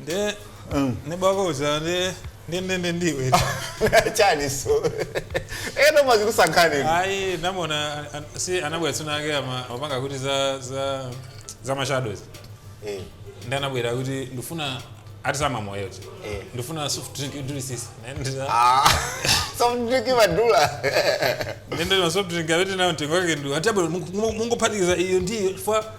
nde neba wako uja nde nde nde nde ndiwe chani so eno amazikusankhani ayi ndamuona an- an- si anabwera tsiku lina lake ama- amapanga kuti za za za mashadows Eh, nde anabwera kuti ndifuna ati samamoyo ti Eh. ndifuna soft drink idrisisi ah, so mdiki madula ndendema soft drink awiti nayo mtengo wake nde ati abwera mungophatikiza iyo ndiyo chifukwa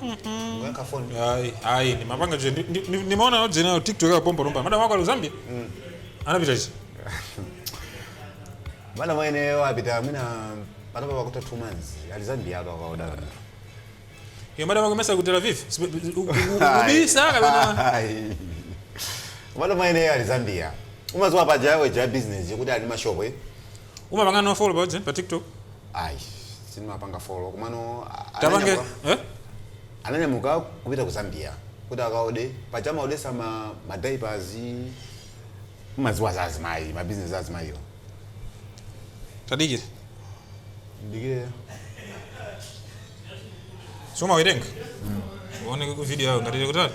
Kuyankha phone. Ayi, ayi, ndimapanga chete. Ndi- ndi- Ndimaona chabe TikTok ya pompo nomba. Madam wako wa Zambia? Anapita ichi. Madam mwene wapita mwina panopa pakutha 2 months. Ali Zambia ndi akukaoda. Yo madam wako mesa ku Tel Aviv. Ubisa kapena. Ayi. Madam mwene ali Zambia. Umaziwa paja awo aja business ya kuti ali mashop eh. Umapanga no follow pa pa TikTok. ayi sindimapanga follow komano a- tapange ananyamuka- eh? ananyamuka kupita ku zambia kuti akaode paja amaodesa ma madiapers umaziwa za azimayi mabizinesi za azimayi tadikire ndikire soma werenga uone video yawo ngati ali kutali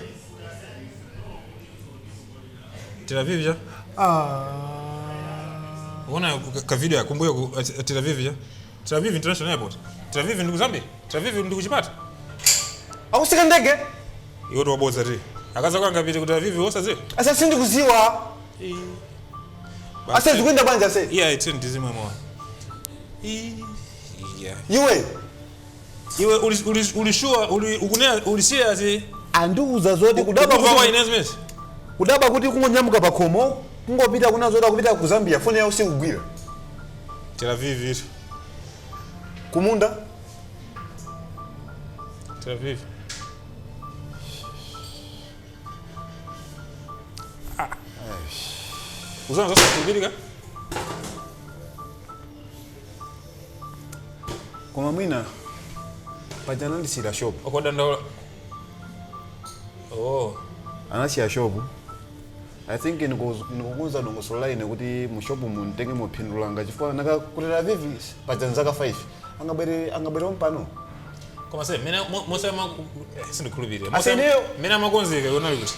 Tel Aviv ja? Unaona ka- ka video ya kumbuyo ku eh, Tel Aviv ja? Tel Aviv International Airport. Tel Aviv ndi ku Zambia. Tel Aviv ndi ku Chipata. akusika ndege Iwo tiwabodza ti. Akaza kwanga pite ku Tel Aviv osaziwa. asa sindikuziwa ase zikuenda bwanji ase Iya ite ndizimwe mwa. Iya. iwe Iwe uli uli uli sure uli ukunena uli serious eh? Andiuza zoti kudabwa Ukuva kuti kwa ku- ine zimezi. kudabwa kuti kungonyamuka pakhomo kungopita kunama zoti akupita ku Zambia foni yawo sikugwira Tel Aviv iri. kumunda Tel Aviv. Ah. Uzanama zosakhulupirika? koma mwina paja anandisiyira shopu yokaoda ku Ndola oh anasiya shopu i think ndiko- ndikukonza dongosolo la ine kuti mu shopu mumtenge mupindule langa chifukwa nanga ku Tel Aviv paja ndi zaka 5 angabwere angabwere pompano koma se mene mo- mose ama sindikhulupirira Ase ineyo- mene amakonzeka iwo unali kuti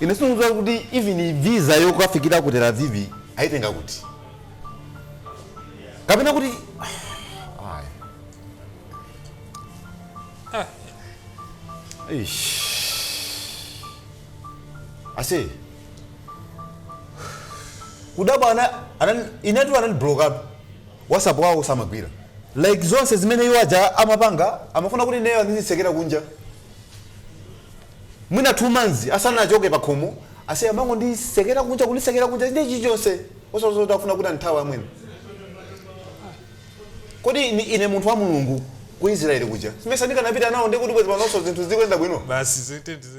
ine sindikudziwa kuti even visa yokafikira ku tel aviv ayitenga kuti kapena kuti Ayi. Ah. Eish. ase kudabwa ana- anani- inetu anandiblokatu WhatsApp yawo simagwira like zonse zimene iwo aja amapanga amafuna kuti ineyo andizitsekera kunja mwina 2 months asanachoke pakhomo ase amangondisekera kunja kundisekera kunja ndi chilichonse osadziwa kuti afuna kuti andithawe amwene kodi ine, ine munthu wa mulungu ku israeli kuja sindimesa ndikanapita nawo ndikuti bwezi panonso zinthu zikuyenda bwino basi ziti ndizi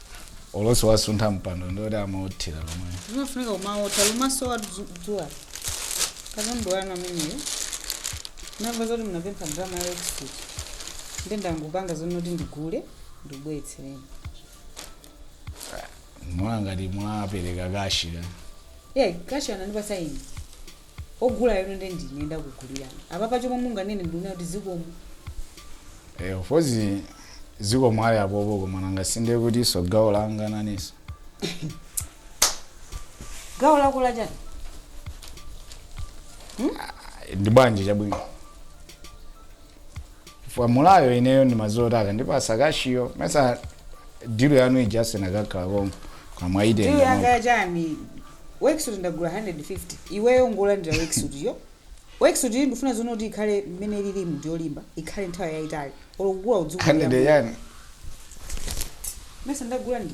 olosi wasuntha mpando ndioti amaothera lomwe zimafunika kumaotha kumaso kwa dzuwa katundu wanu ameneyo ndamva zoti munapempha ndalama ya worksuit nde ndangopanga zonoti ndigule ndikubweretsereni mwa ngati mwapereka kashi eya kashi anandipasa ine ogulayotu nde ndine ndakugulirani apapa chomwe munganene ndikunena kuti zikomo Eh, of course zikomo ali apopo koma nanga sinde kuti so gawo langa nanunso gawo lako lachani ndi bwanji chabwino chifukwa mulayo ineyo ndimadziwa kuti akandipatsa kashiyo mesa dilu yanu ija asinakakhala konko koma mwayitenga Ndiyo yanga mwako. yachani worksuit ndagula 150 iweyo ngolandira worksuit yo worksuit iyi ndifuna zonoti ikhale mmene ilili mu ndiyolimba ikhale nthawi yayitali olo kukula udzukulu Kandide yani mesa ndagula ndi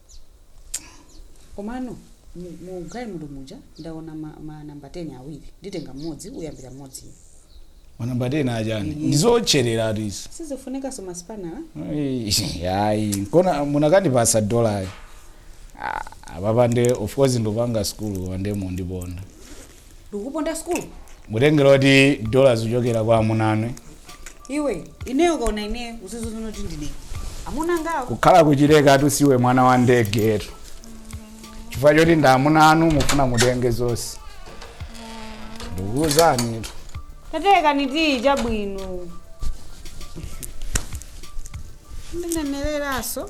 komano mu- mu galimoto muja ndaona ma, ma namba 10 awiri nditenga mmodzi uyambira mmodzi ine manamba 10 achani ndizootcherera tizi sizifunikaso masipanala ayi nkona munakandipasa dolayo apapa nde of course ndipanga skulu nde mundiponda ndikuponda school mutengera kuti dola ikuchokera kwa amuna anu iwe ineyo ukaona ineyo uzidziwa kuti ndine amuna angowo kukhala kuchileka tusiwe mwana wa ndege tu chifukwa choti ndi amuna anu mufuna mutenge zonse ndikuuzani tu tatekani tiyi chabwino ndinemereraso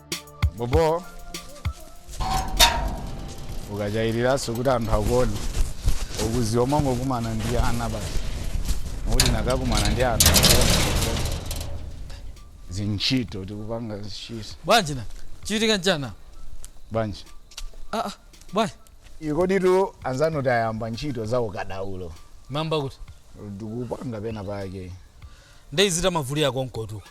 bobo ukachayiriraso kuti anthu akuone ukuziwa mwangokumana ndi ana basi mukuti nakakumana ndi anthu akuone zintchito tikupanga zintchito bwanji nchachitika nchani bwanji ah, ah, bwanji ikoditu anzanu tayamba ntchito za ukadaulo mwamva kuti ndikupanga pena pake ndeyizita mavuto akonkotu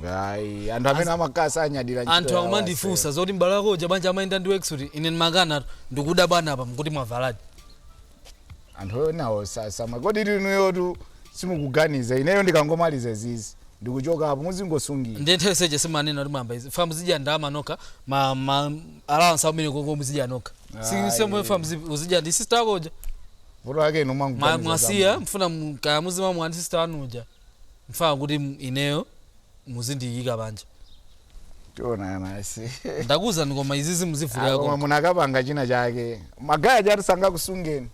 Ngai, anthu amene amakasa anyadira ntchito anthu yawo akumandifunsa zoti m'bale wako uja banja amayenda ndi iwe kuti ine ndimakana tu ndikudabwa apa nkuti mwavaladi ase. anthu onawo sasama koma inuyotu simukuganiza ineyo ndikangomaliza izi ndikuchokapo muzingosungira ndiye nthawi seche simanena kuti mwamba izi muzidya ndalama nokha ma, ma allowance amene koko muzidya nokha si Ayi. semwe famu zi- uzidya ndi sister wako uja vuto lake inu Ma- mwangoganiza mwasiya zamwe. mufuna mu- kaya muzima mwani sister wanu uja mufuna kuti m- ineyo muzindiyika panja tionana ase ndakuwuzani koma izizi koma muzivutirako munakapanga china chake magaya jati sangakusungeni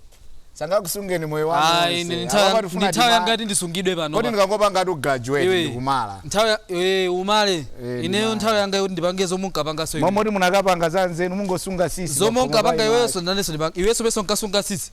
sangakusungeni moyo wanu ayi wonse. ndi Apa patifuna nthawi tima- yanga yoti ndisungidwe pano kodi pa. ndikangopanga ati ku graduate Iwe. ndikumala nthawi ya- eh, umale Eh, ineyo ndimala. nthawi yanga yoti ndipange zomwe unkapangaso iwe. momoti munakapanga za anzanu mungosunga sisi zomwe pafupi pa unkapanga iwe. iweso nanenso ndipange iweso neso nkasunga sisi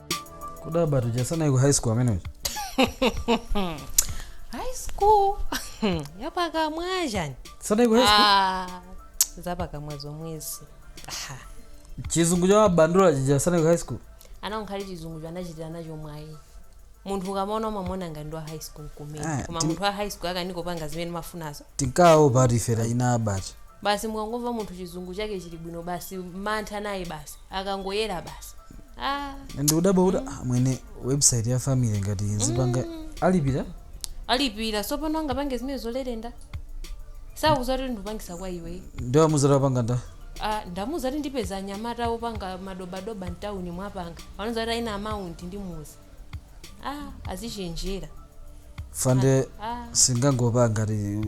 kudabwatu uja sanaye iko high school amene uja high school yapakamwa chani sanayeko high school Ah, zapakamwa zomwezi Ah, chizungu cha mabandula chija sanayeko high school ana unkali chizungu cho anachitira nacho mwayi munthu ukamamuona umamuona ngati ndi wa high school kumene Ah, koma ti- munthu wa high school akanika kupanga zimene mafunazo tinkawopa ati fera ina abacha basi mukangomva munthu chizungu chake chili bwino basi mantha naye basi akangoyera basi ah, ndikudabwa kuti ah, amwene website ya family ngati nzipanga alipira alipira sopano angapange zimene zolerenda sakuza kuti ndikupangisa kwa iwe ndinamuuza kuti wapanga nda Ah, ndamuuza kuti ndipeza anyamata opanga madobadoba mtawuni mwapanga pano ati aina amount ndimuuze ah, azichenjera fande ah. singangopanga ati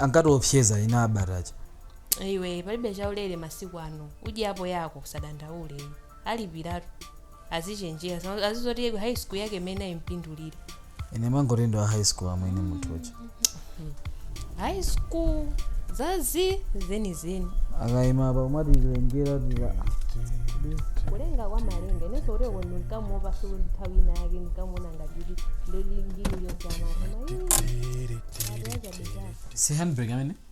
ankatiopseza ina abacha iwe palibe chaulere masiku ano udyapo yako usadandaule iwe alipiratu azichenjera Zama- azizoti iye wa high school yake imene ayimpindulire ine ndimangoti ndi wa high school amwene munthu uja high school zake zenizeni akayima apa amatilengera ati kulenga kwa malenga inenso kuti uko ndinkamuopaso nthawi ina yake ndinkamuona ngati kuti ndili mu ligi yosiyana koma ii ati yachabezaka si handbrake amene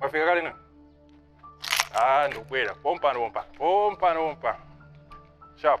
mwafika kale na ah ndikubwera pompano pompa pompano pompa sharp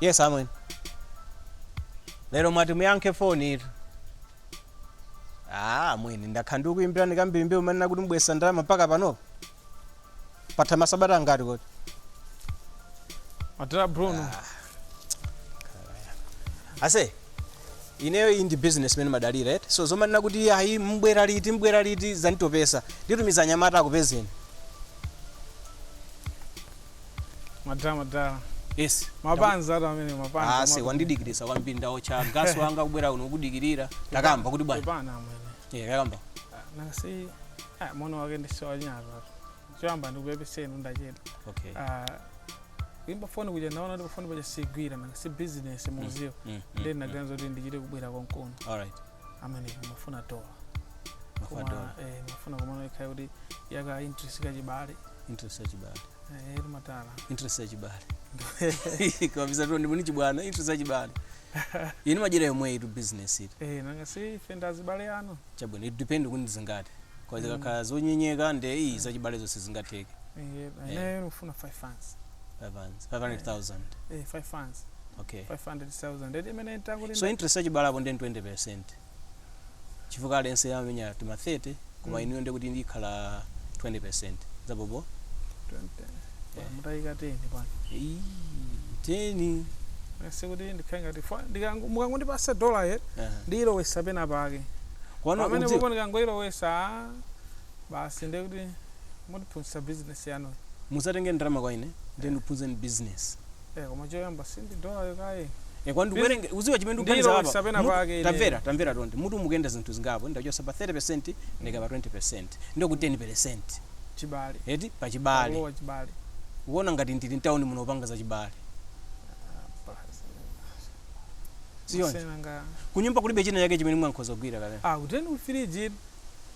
yes amwene lero mwati muyankhe foni eti ah amwene ndakhala ndikuyimbirani kambirimbiri umanena kuti mubwesa ndalama mpaka panopo patha masabata angati kodi atera bruno ase ineyo iyi ndi business imene ndimadalira eti so zomanena kuti ayi mbwera liti mbwera liti zanditopesa nditumiza anyamata akupezeni madala madala yes mapanzi ati amene mapanzi ase amati- wandidikirisa kwambiri ndaotcha gas wanga kubwera kuno kudikirira takamba kuti bwana Pepani amwene yeah, takamba nasi ah, mwana wake ndisiwanyazatu choyamba ndikupepeseni ndachedwa okay Ah, kuimba foni kuja ndaona kuti pafoni paja sigwira nanga si business muziwa Mm, mm, ndiye mm. ndinaganiza kuti ndichite kubwera konkuno alright amene mafuna dola koma mafadol eh, mafuna komano ikhale kuti ya ka interest kachibale interest yachibale eh, eri matala interest yachibale kabisa tu ndimuni chibwana interest yachibale Ine madyera yomweyi tu business eti. Eh nanga si ife ndi azibale anu. Chabwino it depend kuti ndizingati. Cause zikakhala zonyenyeka nde ii zachibalezo sizingatheke. Eh bwana ineyo ndikufuna 5 fanzi. 5 fanzi, 500,000. Eh 5 fanzi. Okay. 500,000 eti imene ntakuti. So interest yachibale apo nde 20%. chifukwa aliyense amamenya tima 30 koma inuyo ndiye kuti ndikhala 20% zabobo 20 mutayika 10 bwana Eyi, 10 sikuti ndikhale ngati fo- ndikango- mukangondipasa dola ye Aha. ndiyilowesa pena pake Komano pamene udziwa- popo ndikangoyilowesa ah, basi ndiye kuti mutiphunzitsa bizinesi yanu musatenge ndalama kwa ine ndiye ndiphunzeni business Eh, koma choyamba sindi dolayo kaye Eh, kwa ndikuwerenge uziwa chimene ndikuganiza apa. Ndilowesa pena pake ine. tamvera tamvera tonde mutu mukuyenda zinthu zingapo ndachosa pa 30% ndaika pa 20% ndiyo ku 10% chibale eti pa chibale kulowa chibale ukuona ngati ndili mtawuni muno upanga za chibale sichoncho Senanga. kunyumba kulibe china chake chimene mwina nkhoza kugwira kapena ah kudeni firiji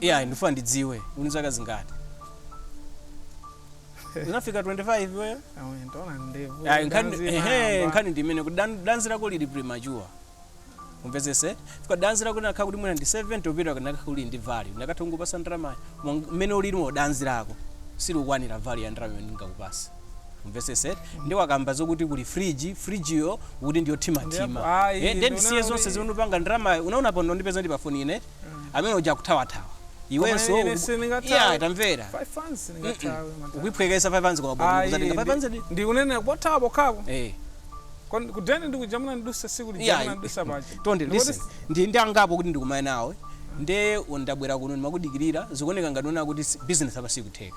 iya ndifuna ndidziwe uni zaka zingati unafika 25 wewe Ayi, nkhani ehe, nkhani ndi imene kuti dan- danzi lako lili premature umvetsese fika danzi lako linakhala kuti mwina ndi 70 kupita kanakhala uli ndi value ndakatha kungokupasa ndalamayo mmene ulilimo danzi lako silikukwanira value ya ndalama imene ndingakupase umvesese nde wakamba zokuti kuli fridge fridge yo ukuti ndi yothimathima Yep, ayi, eh nde ndisiye ndikuona zonse kuti- zimene upanga ndalamayo unaona pano ndipeza ndi pafoni ine eti amene uja akuthawa-thawa iwenso Koma ine uku- sindingathawe. iya tamvera Five fans sindingathawe, mata. ukuiphwekesa 5 fans kwa bwana Ayi, kuzatenga 5 fans ndi- ndikunenera pothawa pokhapo eh Kon- kudeni ndikuja munandidusa siku iya lija munandidusa paja tonde Ndikuti listen ndi ndi angapo kuti ndikumane nawe nde ndabwera kuno ndimakudikirira zikuoneka ngati uona kuti si- business apa sikutheka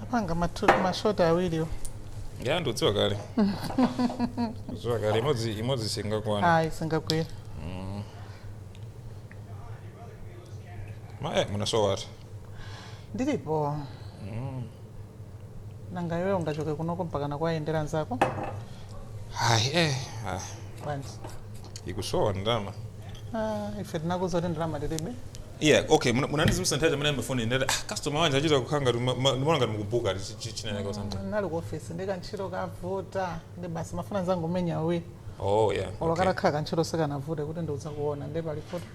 tapanga matu- mashoti awiriwo ya ndikudziwa kale kudziwa kale imodzi imodzi singakwana ayi singagwira ma eh munasowa ati ndilipo nanga iwe ungachoke kunoko mpaka kukawayendera nzako hayi eh ah, bwanji ikusowa ndalama Ah, ife tinakuuza kuti ndalama tilibe yeah okay muna- munandizimitsa nthawi ija mmene mumafoni ndati ah customer wanga achita kukhanga ndimaona ngati mukubuka chinaneka usanta munali ku ofisi ndi kantchito kavuta ndi basi mafuna nzangu menya uwi oh yeah okay. olo katakhala kantchito sikangavute kuti ndidzakuona ndi palifuti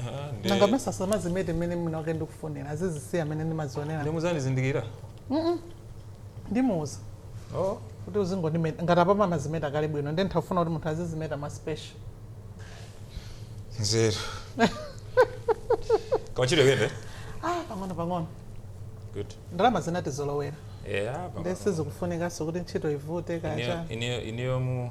Ah, nde- nanga mmesa samazimete mmene mwina wake ndikufunira azizisiya mmene ndimazionera nde muzandizindikira ndimuuza oh. kuti uzingondimeta ngati apapa mumazimeta kale bwino nde ndimafuna kuti munthu azizimeta ma special nzeru kumachita kuyenda ah pang'ono pang'ono good ndalama zinatizolowera yeah, nde sizikufunikaso kuti ntchito ivute kaya ineyo mu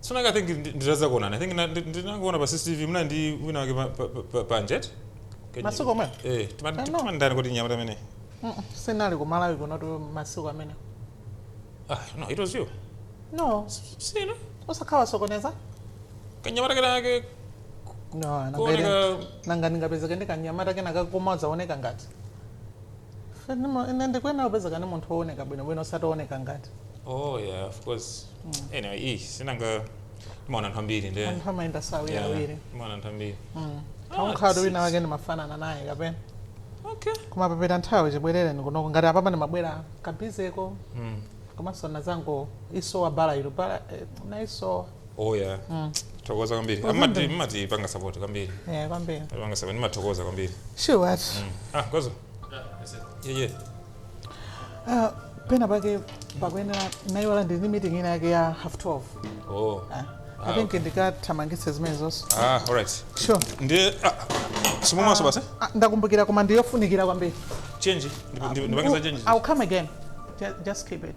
So kenaka I think nditazakuonani I think ndinangoona pa CCTV munali ndi wina wake pa pa pa panja eti. Masiku amenewo? Eh, timati timati ndani kuti mnyamata amene. Sindinali ku Malawi kunotu masiku amenewo. Ah, no, it was you. No. Sina. Usakhale wasokoneza? Kanyamata kena kake No, nanga nanga ndingapezeke ndi kanyamata kenaka kumadzaoneka ngati. Ndimo- ine ndikuyenera kupezeka ndi munthu wooneka bwinobwino osati wooneka ngati oh yeah of course anyway iyi sinanga mumaona anthu ambiri nde anthu amayenda awiriawiri mumaona anthu ambiri kaya mukhala kuti wina wake ndimafanana naye kapena okay kumapepera nthawi chibwerereni kunoko ngati apapa ndimabwera ka busy-ko Mm. komanso ndinazangoisowa barber yo barber eh, ndinaisowa oh yeah mm. tathokoza kwambiri mumati mumatipanga support kwambiri yeah kwambiri panga support timathokoza kwambiri sure what mm. ah kwazo yeah yeah uh, pena pake pakuyenera iwowa ndili ndi meeting ina yake ya half 12 oh uh, i ah, think okay. ndikathamangitse zimenezo ah all right sure ndi ah, simumaso basi ah, ah, ndakumbukira koma ndiyofunikira kwambiri change ndipangitsa change i'll come again just keep it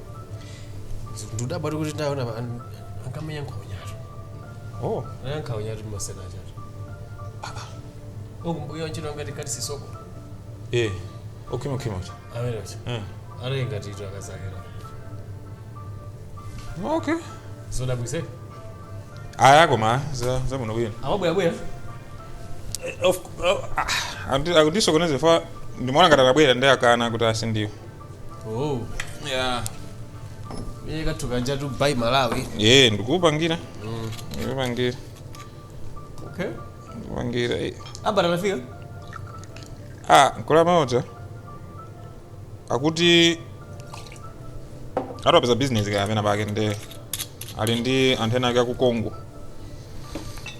ndikudabwatu kuti ndaona pa- an- ankamenya nkhawanyatu oh anali ankhawanyatu masana achatu okumbuyo ntchito ngati kati sisoko eh okhima khima kuti amenecho eh anali ngati ito akazakera okay zodabwitsa aya koma za za muno bwino amabwerabwera of oh, ah, akuti- akutisokoneza ife ndimaona ngati akabwera ndi akana kuti asindiwo oh yeah iye kathu kanja tu by malawi ye ndikupangira ndikupangira okay ndikupangira eh. apa tanafika ah nkulu uja akuti atipeza business kaya pena pake ndi ali ndi anthu ena ake aku congo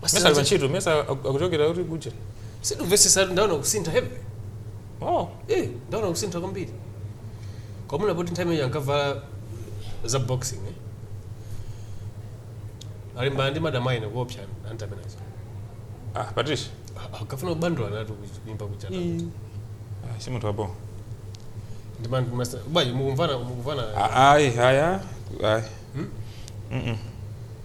Mmesa ali pantchito mmesa aku- akuchokera kuti kuja sindimvetsetsa ndaona kusintha heavy oh eh ndaona kusintha kwambiri kwamuna poti nthawi imeneyo ankavala za boxing eh? akulimbana ndi madam aine kuopsa aunt amenewo ah patricia akafuna kubandula natu kuimba kuja ah si munthu wabwino ndi man master bwayi mukumvana mukumvana Ah, ayi aya ayi Mm-mm.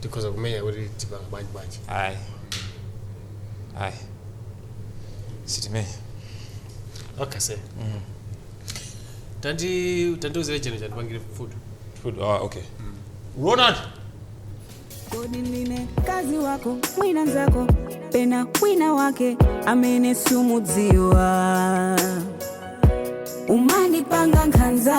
tikhoza kumenya kuti tipanga bwanji bwanji ayi ayi sitimenya okay sir tandi tandiuzire chef uyo andipangire food food ah okay ronald Kodi ndine mkazi wako mwina nzako pena wina wake amene sumudziwa umandipanga nkhanza